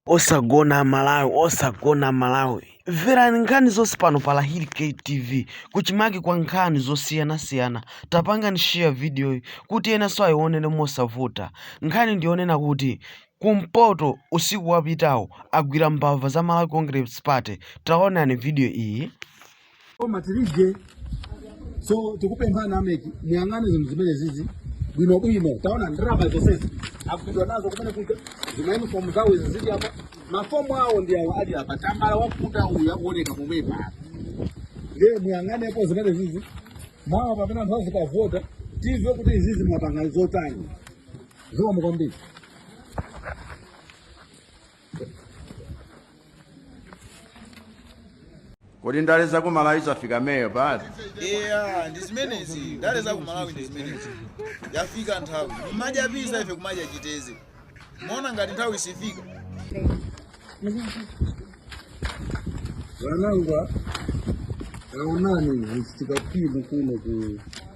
osagona amalawi osagona amalawi mverani nkhani zonse pano pa lahiri ktv kuchimake kwa nkhani zosiyanasiyana tapangani share vidiyoyi kuti enanso ayionere mosavuta nkhani ndiyonena kuti kumpoto usiku wapitawu agwira mbava za malawi congress party taonani vidiyo iyi koma tiribe so tikupemphana ameki muyang'ane zinthu zimene zizi bwino bwino taonani ndalama zonsezi agwidwa nazo kumene kuja zimainifomu zawo izi zili apa mafomu awo ndi awo ali apa tambala wakuda uyu akuoneka pomwepa ndiye muyang'anepo zimene zizi mawa pamene anthu azikavota tizive kuti izizi mwapanga zotani zikomo kwambiri kodi ndale za ku malawi zafika meyo pati eya ndi zimenezi ndale za ku malawi ndi zimenezi yafika nthawi kumadya pisa ife kumadya chiteze mona ngati nthawi isifika vanangwa aonani zvichitika kwimu kuno ku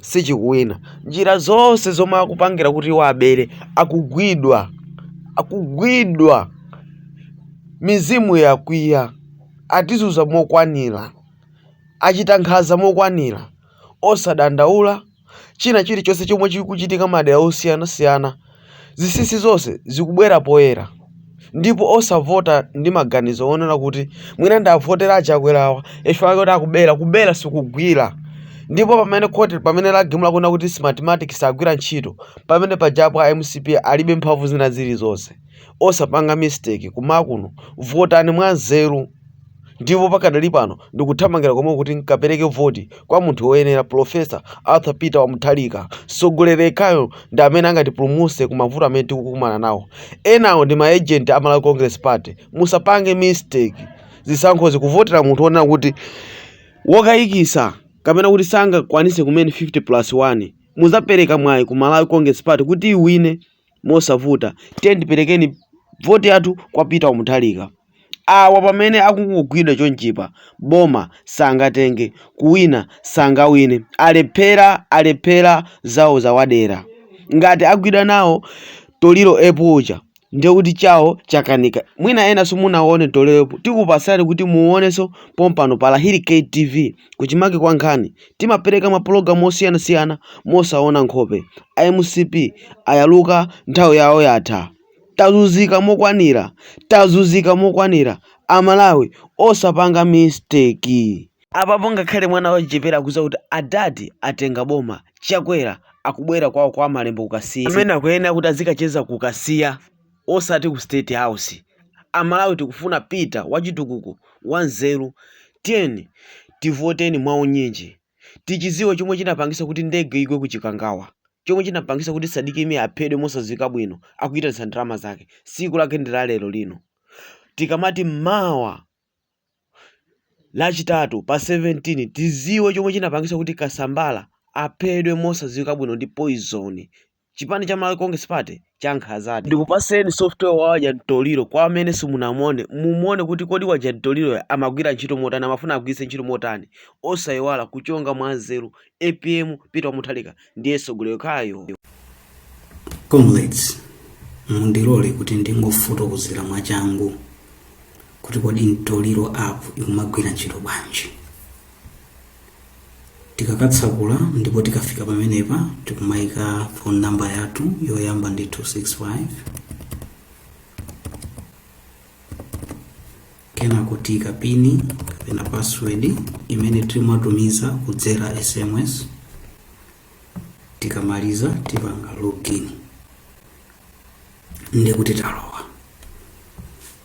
sichikuwina njira zonse zomwe akupangira kuti iwo abere akugwidwa akugwidwa mizimu yakwiya atizuza mokwanira achita nkhaza mokwanira osadandaula china chilichonse chomwe chikuchitika madera osiyanasiyana Zinsinsi zonse zikubwera poyera ndipo osavota ndi maganizo onena kuti mwina ndivotere achakwerawa chifukwa choti akubera kubera sikugwira ndipo pamene khoti pamene lagamula kunena kuti smartmatic sagwira ntchito pamene pajapo a mcp alibe mphamvu zina zilizonse osapanga mistake kumakuno votani mwanzeru ndipo pakadali pano ndikuthamangira komwe kuti nkapereke voti kwa munthu woyenera Professor Arthur Peter Wamutharika mtsogoleri yekhayo ndi amene angatipulumutse ku mavuto amene tikukumana nawo enawo ndi ma agent a Malawi Congress Party musapange mistake zisankhozi kuvotera munthu wonena kuti wokayikisa kapena kuti sangakwanise kumene 50 plus 1 muzapereka mwayi ku Malawi Congress Party kuti iwine mosavuta tiyeni tiperekeni voti yathu kwa peter wamuthalika awa pamene akungogwidwa chonchipa boma sangatenge kuwina sangawine alephera alephera zawo zawadera ngati agwidwa nawo toliro epu uja ndiye kuti chawo chakanika mwina ena simunaone toliro epu tikupasani kuti muoneso pompano pa lahiri ktv kuchimake kwa nkhani Timapereka mapologamu osiyanasiyana mosaona nkhope. A mcp ayaluka nthawi yawo yatha. Tazuzika mokwanira. Tazuzika mokwanira. A Malawi osapanga mistake. Apapo ngakhale mwana wachichepere akuziwa kuti adad atenga boma. Chakwera akubwerera kwawo kwa Malembo ku Kasiya. Amene akuyenera kuti azikacheza ku Kasiya. osati ku state house amalawi tikufuna peter wachitukuko wanzeru tiyeni tivoteni mwaunyinji tichiziwe chomwe chinapangisa kuti ndege igwe ku chikangawa chomwe chinapangisa kuti sadiki mia aphedwe mosaziwika bwino akuyitanisa ndalama zake siku lake ndi la lero lino tikamati mawa Lachitatu pa 17 tiziwe chomwe chinapangisa kuti Kasambala aphedwe mosaziwika bwino ndi poison. Chipani cha Malawi Congress Party chankhazadi. Ndikupaseni software wa wadya mtoliro kwa amene simunamuone mumuone kuti kodi wadya mtoliroyo amagwira ntchito motani amafuna agwiritse ntchito motani osaiwala kuchonga mwanzeru Apm Peter wa Mutharika ndiye mtsogoleri yekhayo. Comrades, mundilole kuti ndingofotokozera mwachangu kuti kodi Mtoliro app ikumagwira ntchito bwanji. Tikakatsakula ndipo tikafika pamenepa tikumaika phone number yathu yoyamba ndi 265 kenako tiika pini kapena password imene timatumiza kudzera sms tikamaliza tipanga login ndiye kuti talowa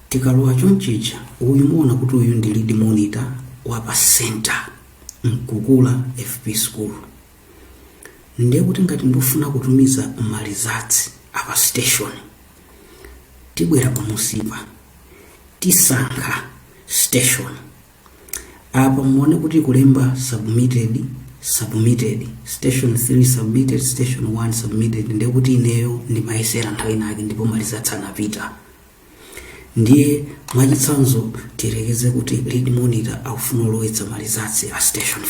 tikalowa chonchicha uyu muona kuti uyu ndi lead monitor wa pa center mkukula fp school ndiye kuti ngati ndifuna kutumiza ma results a pa station tibwera pamunsipa tisankha station apa muone kuti kulemba submitted submitted station 3 submitted station 1 submitted ndiye kuti ineyo ndimayesera nthawi inake ndipo ma results anapita ndiye mwachitsanzo tiyerekeze kuti lead monitor akufuna kulowetsa ma results a station 5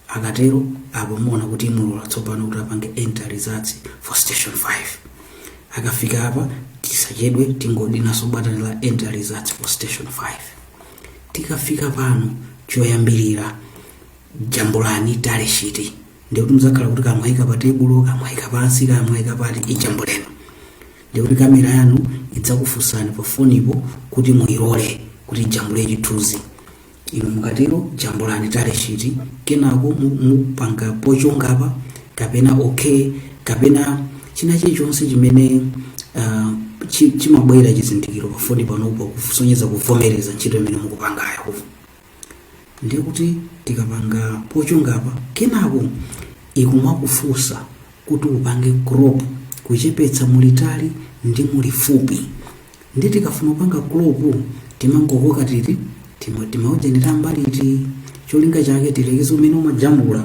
akatero apo muona kuti imulola tsopano kuti apange enter results for station 5 akafika apa tisachedwe tingodinaso button la enter results for station 5 tikafika pano choyambirira jambulani tally sheet ndikuti muzakhala kuti kamwayika pa tebulo kamwayika pansi kamwayika pati ijambuleni ndikuti kamera yanu idzakufunsani pa fonipo kuti muyilole kuti ijambule chithunzi Inu mukatero jambulani tally sheet kenako mu, mupanga pochonga apa kapena okay kapena china chilichonse chimene uh, chi, chimabwera chizindikiro pafoni panupo kusonyeza kuvomereza ntchito imene mukupangayo kuvo ndiye kuti tikapanga pochonga apa kenako ikumakufunsa kuti upange crop kuchepetsa mulitali ndi mulifupi nde tikafuna kupanga crop timangokoka titi tima- timaujanira mbali izi cholinga chake tiyerekeze umene umajambula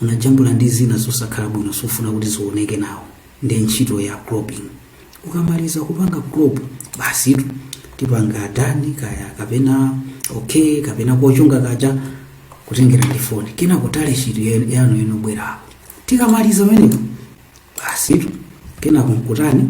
unajambula ndi zina zosakhala bwino sukufuna kuti zioneke nawo ndi ntchito ya cropping ukamaliza kupanga crop basitu tipanga done kaya kapena okay kapena kochonga kaja kutengera ndi foni kenako tally sheet ya- yanu inobwerapo tikamaliza meneko basitu kenako nkutani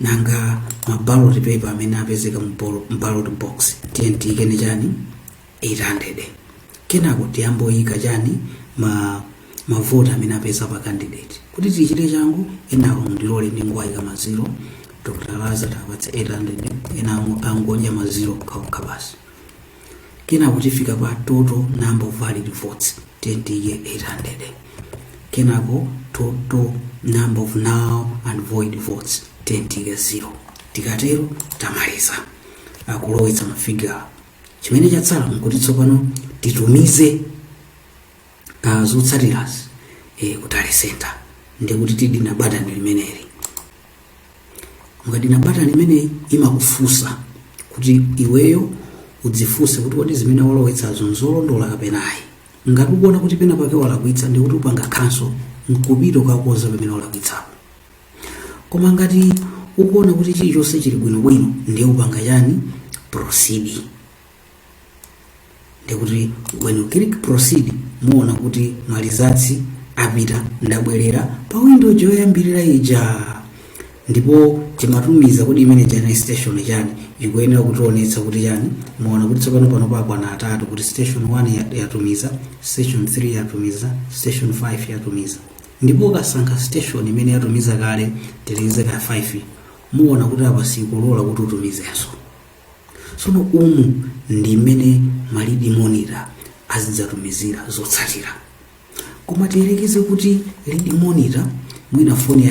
nanga ma ballot paper amene apezeka mu ball- mu ballot box tiyeni tiyike chani 800 kenako tiyamba kuyika chani ma mavoti amene apeza pa candidate kuti tichite changu enawo ndilole ndingowayika maziro dr lazarus tiwapatse 800 enawo angodya maziro okhaokha basi kenako tifika pa total number of valid votes tiyeni tiyike 800 kenako total number of null and void votes tiyeni tiyike 0 tikatero tamaliza kulowetsa mafigure chimene chatsala nkuti tsopano titumize zotsatirazi ku tally center ndikuti tidina batani limeneli mukadina batani limeneli imakufunsa kuti iweyo udzifunse kuti kodi zimene walowetsazo nzolondola kapena ayi ngati ukuona kuti pena pake walakwitsa ndikuti upanga cancel nkupita kukakonza pamene walakwitsapo koma ngati ukuona kuti chilichonse chili bwinobwino ndiye upanga chani proceed ndikuti when you click proceed muona kuti maresults apita ndabwerera pa window yoyambirira ija ndipo chimatumiza kuti imene ija station chani ikuyenera kutionetsa kuti chani muona kuti tsopano pano pakwana atatu kuti station 1 ya- yatumiza station 3 yatumiza station 5 yatumiza ndipo ukasankha station imene yatumiza kale tiyerekeze 5 muona kuti apa sikulola kuti utumizenso tsono umu ndi mmene malead monitor azidzatumizira zotsatira koma tiyerekeze kuti lead monitor mwina foni ya